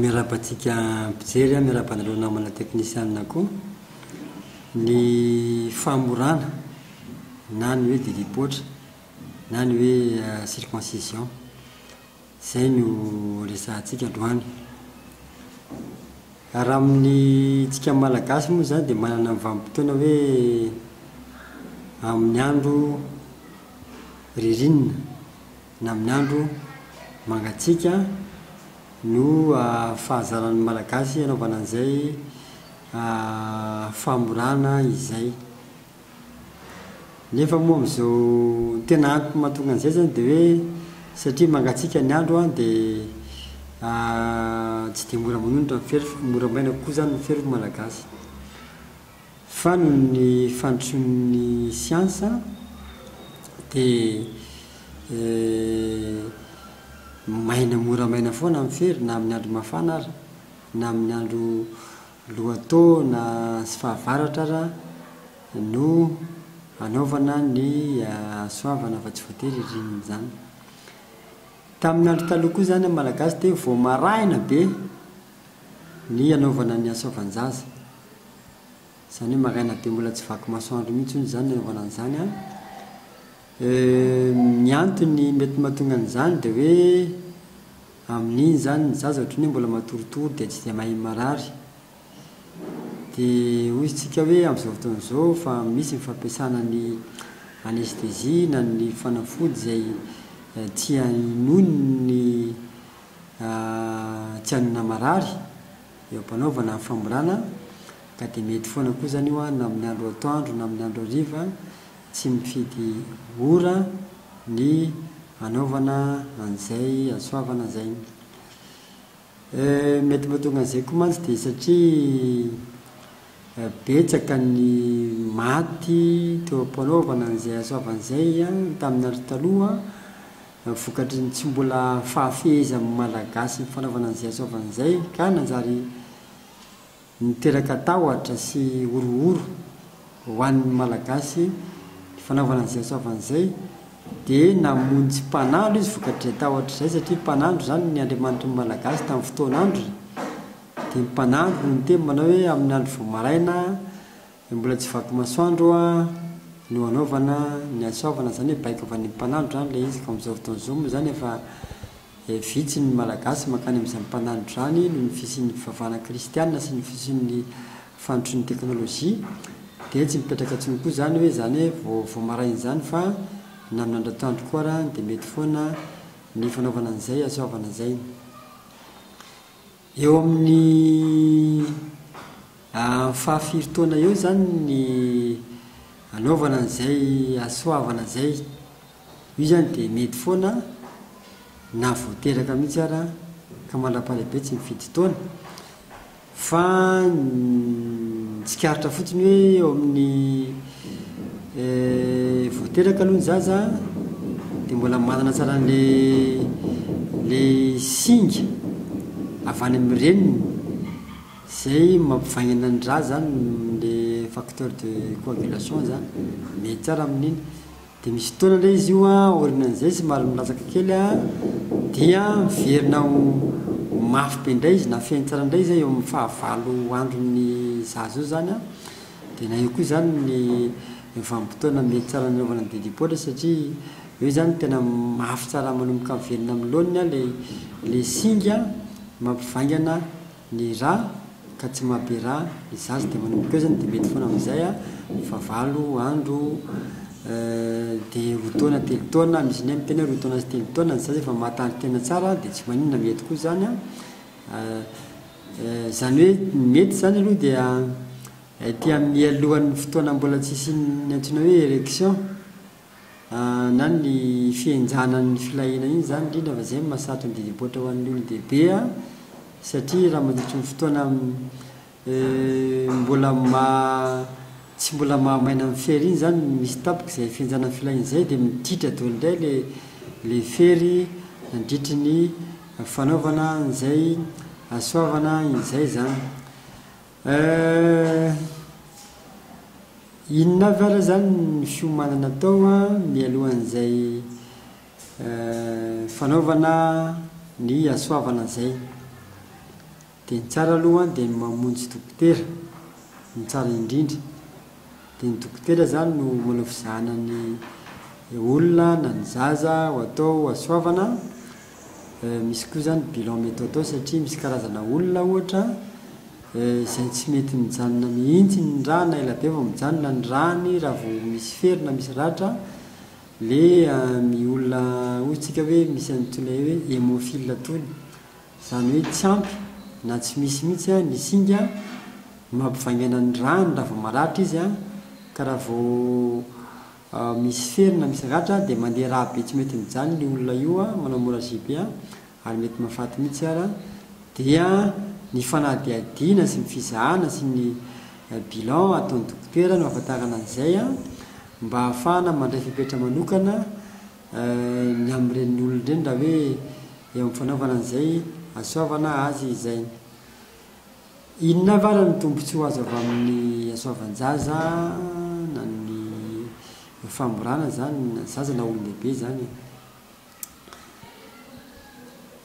Miarahaba antsika mpijery an, miarahaba anareo namana teknisianina koa. Ny famorana na ny hoe didipoitra na ny hoe circoncision, izay no resahantsika androany. Ary amin'ny tsika malagasy moa izany dia manana ny vanim-potoana hoe amin'ny andro ririnina. Ny amin'ny andro mangatsiaka no fahazaran'ny Malagasy hanaovana an'izay famorana izay. Nefa moa amin'izao, ny tena antony mahatonga an'izay izany dia hoe satria mangatsiaka ny andro an, dia tsy dia mora manonitra ny fefy fa mora maina kokoa izany ny fefin'ny Malagasy. Fa noho ny fandrosoan'ny siansa dia maina mora maina foana ny fery na amin'ny andro mafana aza, na amin'ny andro lohataona sy fahavaratra aza no anaovana ny soavana fa tsy voatery ririnina izany. Tamin'ny andro taloha koa izany amin'ny Malagasy dia vao maraina be Ny anaovana ny asa van-jaza. Izany hoe maraina dia mbola tsy vaky masoandro mihitsy hono izany ny anaovana an'izany an! Ny antony mety mahatonga an'izany dia hoe amin'iny izany ny zaza ohatran'ny hoe mbola matoritory dia tsy dia mahay marary. Dia hoy isika hoe amin'izao fotoana izao efa misy ny fampiasana ny anesthésie na ny fanafody izay tsy hahenoy ny. tsy an'ny namarary eo am-panaovana ny famorana ka dia mety foana koa izany io na amin'ny andro atoandro na amin'ny andro hariva, tsy mifidy ora ny hanaovana an'izay hahasoavana izay. Mety mahatonga an'izay koa mantsy dia satria betsaka ny maty teo am-panaovana an'izay hahasoavana izay tamin'ny andro taloha, Vokatry ny tsy mbola fahafehezan'ny Malagasy ny fanaovana an'izay hasaovany izay ka nanjary niteraka tahotra sy horohoro ho an'ny Malagasy ny fanaovana an'izay hasaovany izay dia namonjy mpanandro izy vokatr'izay tahotra izay satria mpanandro izany ny Andriamanitry ny Malagasy tamin'ny fotoan'androny dia ny mpanandro no niteny manao hoe amin'ny andro vao maraina Dia mbola tsy vaky masoandro no anaovana ny hasoavana izany hoe baiko avy any amin'ny mpanandro izany ilay izy. Ka amin'izao fotoana izao moa izany efa vitsy ny Malagasy mankany amin'izany mpanandro izany noho ny fisian'ny fivavahana kristiana sy ny fisian'ny fandrosoan'ny teknolojia. Dia tsy mipetraka intsony koa izany hoe izany hoe vao vao maraina izany fa na amin'ny andro atoandro koa ary dia mety foana ny fanaovana an'izay hasoavana izay. Eo amin'ny fahafiry taona eo izany ny anaovana an'izay hasoavana izay. Io izany dia mety foana na vao teraka mihitsy ara ka mandra-pahalehibe tsy mifidy taona. Fa ny tsikaritra fotsiny hoe eo amin'ny. Vao teraka aloha ny zaza dia mbola manana tsara an'ilay singa avy any amin'ny reniny izay mampivaingana ny ra izany, ilay facteur de coagulation izany, mety tsara amin'iny. Dia misy fotoana indray izy io an, aorianan'izay somary milatsaka kely an, dia miverina ho ho mafy be indray izy na feno tsara indray izy an, eo amin'ny fahavalo andron'ny zaza eo izany an, dia na io koa izany ny ny vanim-potoana mety tsara nanaovana ny didipoitra satria eo izany tena mafy tsara manomboka miverina amin'ny laoniny an ilay ilay singa mampivaingana Ny ra ka tsy mahabe ra ny zaza dia manomboka eo izany dia mety foana amin'izay fa valo andro dia roa taona telo taona misy indray miteny hoe roa taona sy telo taona ny zaza efa mahataly tena tsara dia tsy maninona mety koa izany an! izany hoe ny mety izany aloha dia ety amin'ny mialohan'ny fotoana mbola tsy hisian'ny antsoina hoe erection na ny fihenjanan'ny filahiana iny izany indrindra fa izay no mahasarotra ny didy am-poatra ho an'ny olon-dehibe satria raha mandritry ny fotoana mbola tsy mbola maha maina ny fery iny izany no misy tapaka izay fihenjanan'ny filahiana izay dia miditra daholo indray ilay ilay fery nandritry ny fanaovana an'izay hasoavana izay izany. Eh, inona avy ary izany ny fiomanana atao mialohan'izay eh, fanaovana ny hasoavana izay? Dia ny tsara aloha dia ny mamonjy dokotera no tsara indrindra. Dia ny dokotera izany no manao fizahana ny olona na ny zaza ho atao hasoavana Misy koa izany bilan mety atao satria misy karazana olona ohatra izay tsy mety mijanona mihitsy ny rà na elabe vao mijanona ny ràny raha vao misy fery na misy ratra dia ny olona hoy isika hoe misy an'itony atao hoe hemophile itony izany hoe tsy ampy na tsy misy mihitsy ny singa mampivaingana ny ràny raha vao maratra izy an ka raha vao misy fery na misy ratra dia mandeha raha be tsy mety mijanona io olona io a, manao hemorragie ary mety mahafaty mihitsy ara, dia ny fanadihadiana sy ny fizahana sy ny bilan ataon'ny dokotera no ahafantarana an'izay a, mba ahafahana mandray fepetra manokana ny amin'ireny olona ireny raha hoe eo amin'ny fanaovana an'izay hahasoavana azy izay. Inona avy ary ny tombontsoa azo avy amin'ny hasoavan-jaza na ny famorana izany na zaza na olon-dehibe izany e?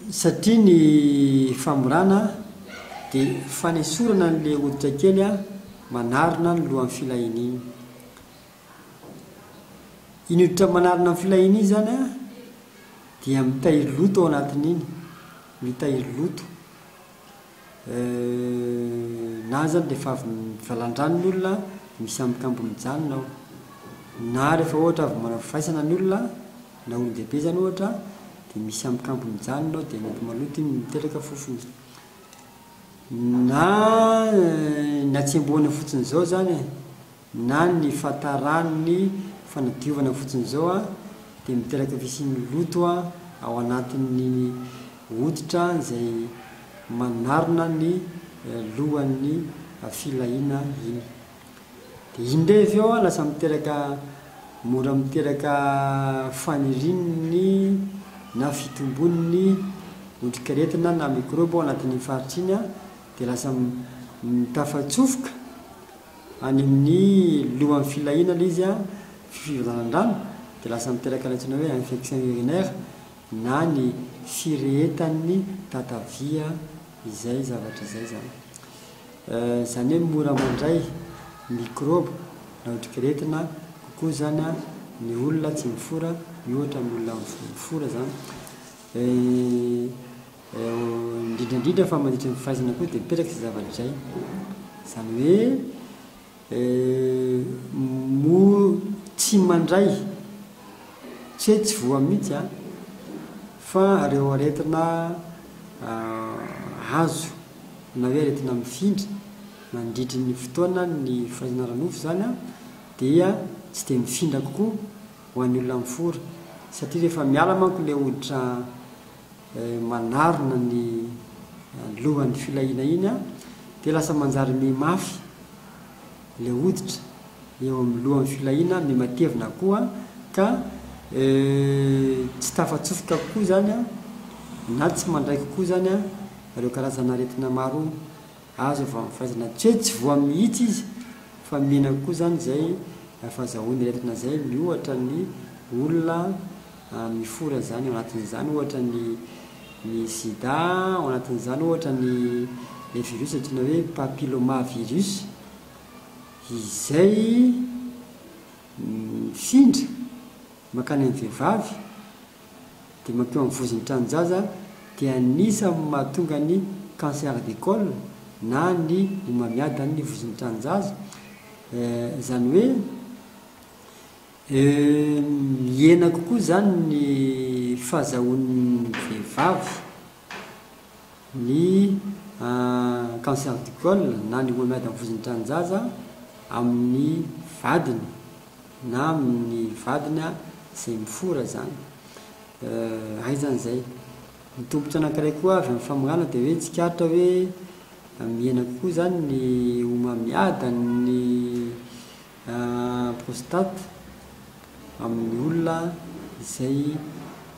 Satria ny famorana dia fanesorana an'ilay hoditra kely manarona ny lohan'ny filahiana iny. Iny hoditra manarona ny filahiana iny izany an dia mitahiry loto ao anatin'iny, mitahiry loto. na aza dia efa avy valan-drano ny olona misy ambinkamby mijanona ao, na rehefa ohatra avy manao fifaisana ny olona na olon-dehibe izany ohatra dia misy ambinkamby mijanona ao dia mety maloto iny miteraka fofona, na ny hatsembohana fotsiny izao izany e! na ny fahataran'ny fanadiovana fotsiny izao dia miteraka fisian'ny loto ao anatin'ny hoditra izay manarona ny lohan'ny filahiana iny. Dia iny indray avy eo lasa miteraka mora miteraka fanirian'ny na fitombon'ny otrikaretina na mikrôby ao anatin'iny faritra iny dia lasa tafatsofoka any amin'ny lohan'ny filahiana ilay izy an, fivalan-drano, dia lasa miteraka ilay antsoina hoe infection urinaire na ny firehetan'ny tatavia izay zavatra izay izany. Izany hoe mora mandray mikrôba na otrik'aretina kokoa izany an ny olona tsy mifora miohatra amin'ny olona mifora izany. Indrindra indrindra fa mandritra ny fahaizana koa dia mipetraka izay zavatra izay. Izany hoe mora tsy mandray, tsy hoe tsy voa mihitsy an, fa ireo aretina azo na hoe aretina mifindra mandritra ny fotoana ny fahaizana ara-nofo izany an, dia tsy dia mifindra kokoa ho an'ny olona mifora satria rehefa miala manko ilay hoditra manarona ny lohan'ny filahiana iny dia lasa manjary miha mafy ilay hoditra eo amin'ny lohan'ny filahiana, miha matevina koa ka tsy tafatsofoka kokoa izany na tsy mandray kokoa izany ireo karazana aretina maro azo avy amin'ny fahaizana. Tsy hoe tsy voa mihitsy izy fa mihena kokoa izany izay fahazahoana aretina izay miohatra ny olona. Mifory an'izany, ao anatin'izany ohatra ny ny sida, ao anatin'izany ohatra ny ilay virus antsoina hoe papillomavirus izay mifindra mankany amin'ny vehivavy dia mankeo amin'ny vozon'ny tranon-jaza dia anisan'ny mahatonga ny cancer de col na ny homamiadan'ny vozon'ny tranon-jaza, izany hoe. Mihena kokoa izany ny fahazahoan'ny vehivavy ny cancer du col na ny homamiady amin'ny vozon'ny tranonjaza amin'ny vadiny na amin'ny vadiny izay mifora izany. Hay izany izay. Ny tombotsoa anankiray koa avy amin'ny famongana dia hoe tsikaritra hoe mihena kokoa izany ny homamiadan'ny. prostate amin'ny olona izay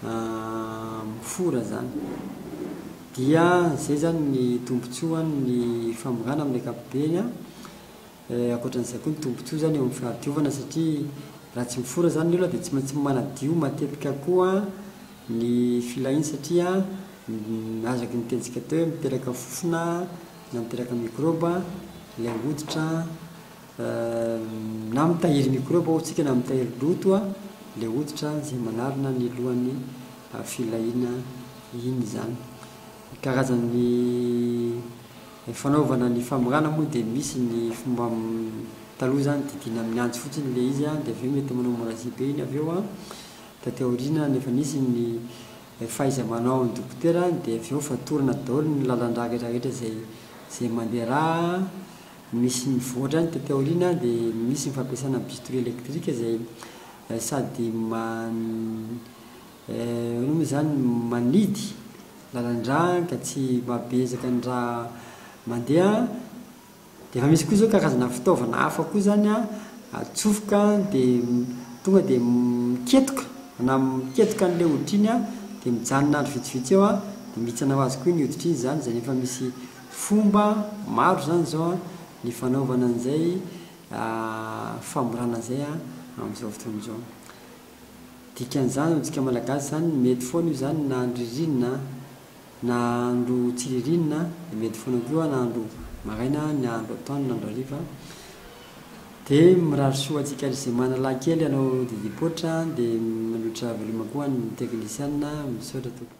mifora zany dia zay zany ny tombotsoany ny famongana amin'ny ankapobeny an, ankoatran'izay koa ny tombotsoa zany eo amin'ny fahadiovana satria raha tsy mifora zany ny olona dia tsy maintsy manadio matetika koa ny filahiny satria azaky ny nitentsika teo hoe miteraka fofona na miteraka mikrôba ilay hoditra Na mitahiry mikrôba ô tsika na mitahiry loto le hoditra zay manarona ny lohan'ny filahiana iny izany. Ny karazan'ny fanaovana ny famorana moa dia misy ny fomba taloha zany didiana amin'ny antsy fotsiny le izy dia avy eo mety manao hemorragie be iny avy eo an. Taty aoriana nefa nisy ny fahaiza-manaon'ny dokotera dia avy eo fatorana daholo ny lalan-drà rehetra rehetra zay zay mandeha rà. Misy mivoatra any taty aoriana dia misy ny fampiasana bistouri électrique izay sady man hoana moa izany manidy lalandrà ka tsy mahabe ezaka ny rà mandeha dia efa misy koa izao karazana fitaovana hafa koa izany an atsofoka dia tonga dia miketoka na miketoka an'ilay hoditra iny an dia mijanona andro vitsivitsy eo an dia mihitsana ho azy koa iny hoditra iny izany izay rehefa misy Fomba maro izany izao ny fanaovana an'izay famorana izay amin'izao fotoana izao. Dikan'izany amintsika Malagasy izany mety foana io izany na andro ririnina na andro tsy ririnina dia mety foana koa na andro maraina na andro atoandro na andro hariva. Dia mirary soa antsika ary izay manalahy kely hanao didipoitra dia mandroatra veloma koa ny teknisiana. Misaotra tompoko.